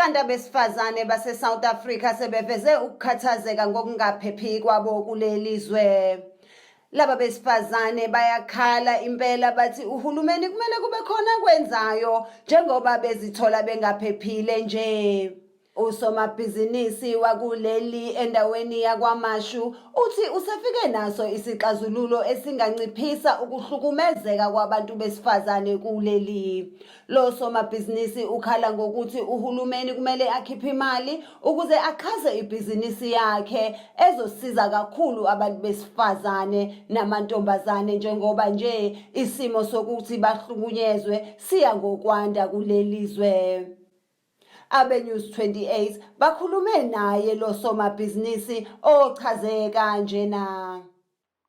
Abantu abesifazane base-South Africa sebeveze ukukhathazeka ngokungaphephi kwabo kuleli zwe. Laba besifazane bayakhala impela bathi uhulumeni kumele kube khona kwenzayo njengoba bezithola bengaphephile nje. Usomabhizinisi wakuleli endaweni yakwaMashu uthi usefike naso isixazululo esinganciphisa ukuhlukumezeka kwabantu besifazane kuleli. Lo somabhizinisi ukhala ngokuthi uhulumeni kumele akhiphe imali ukuze axhase ibhizinisi yakhe ezosiza kakhulu abantu besifazane namantombazane njengoba nje isimo sokuthi bahlukunyezwe siya ngokwanda kuleli zwe. AbeNews 28 bakhulume naye lo somabhizinisi ochaze kanjena.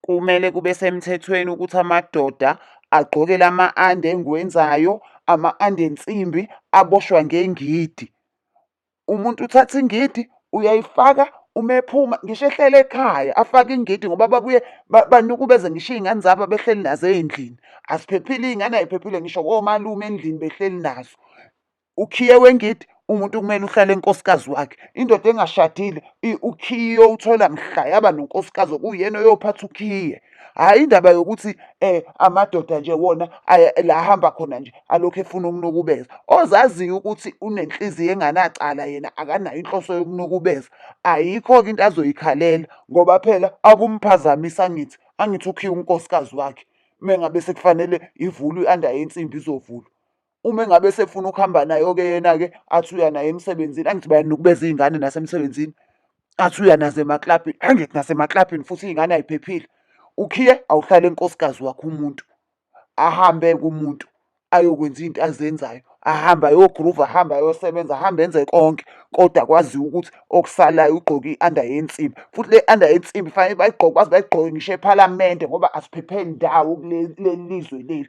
Kumele kube semthethweni ukuthi amadoda agqoke lama ande engiwenzayo ama ande ensimbi aboshwa ngengidi umuntu uthatha ingidi uyayifaka uma ephuma ngisho ehlele ekhaya afake ingidi ngoba babuye banukubeze ngisho iy'ngane zabo abehleli nazo ey'ndlini asiphephile iy'ngane ayiphephile ngisho komalume endlini behleli nazo Ukhiye wengidi umuntu kumele uhlale enkosikazi wakhe indoda engashadile ukhiye iyowuthola mhla yaba nonkosikazi okuyena oyophatha ukhiye hhayi indaba yokuthi um amadoda nje wona la ahamba khona nje alokhu efuna ukunukubeza ozaziyo ukuthi unenhliziyo enganacala yena akanayo inhloso yokunukubeza ayikho-ke into azoyikhalela ngoba phela akumphazamisi angithi angithi ukhiye unkosikazi wakhe mengabe sekufanele ivulwe i-under yensimbi izovulwa uma engabe sefuna ukuhamba nayo-ke yena-ke athi uya naye emsebenzini angithi bayanukubeza iy'ngane nasemsebenzini athi uya nazo emaklabhini angithi nasemaklabhini futhi iy'ngane ayiphephile ukhiye awuhlale nkosikazi wakho umuntu ahambe kumuntu ayokwenza into azenzayo ahambe ayogruva ahambe ayosebenza ahambe enze konke kodwa kwaziwa ukuthi okusalayo ugqoke i-under yensimbi futhi le under yensimbi fanele bayigqoke baze bayigqoke ngisho ephalamende ngoba asiphepheli ndawo kuleli lizwe leli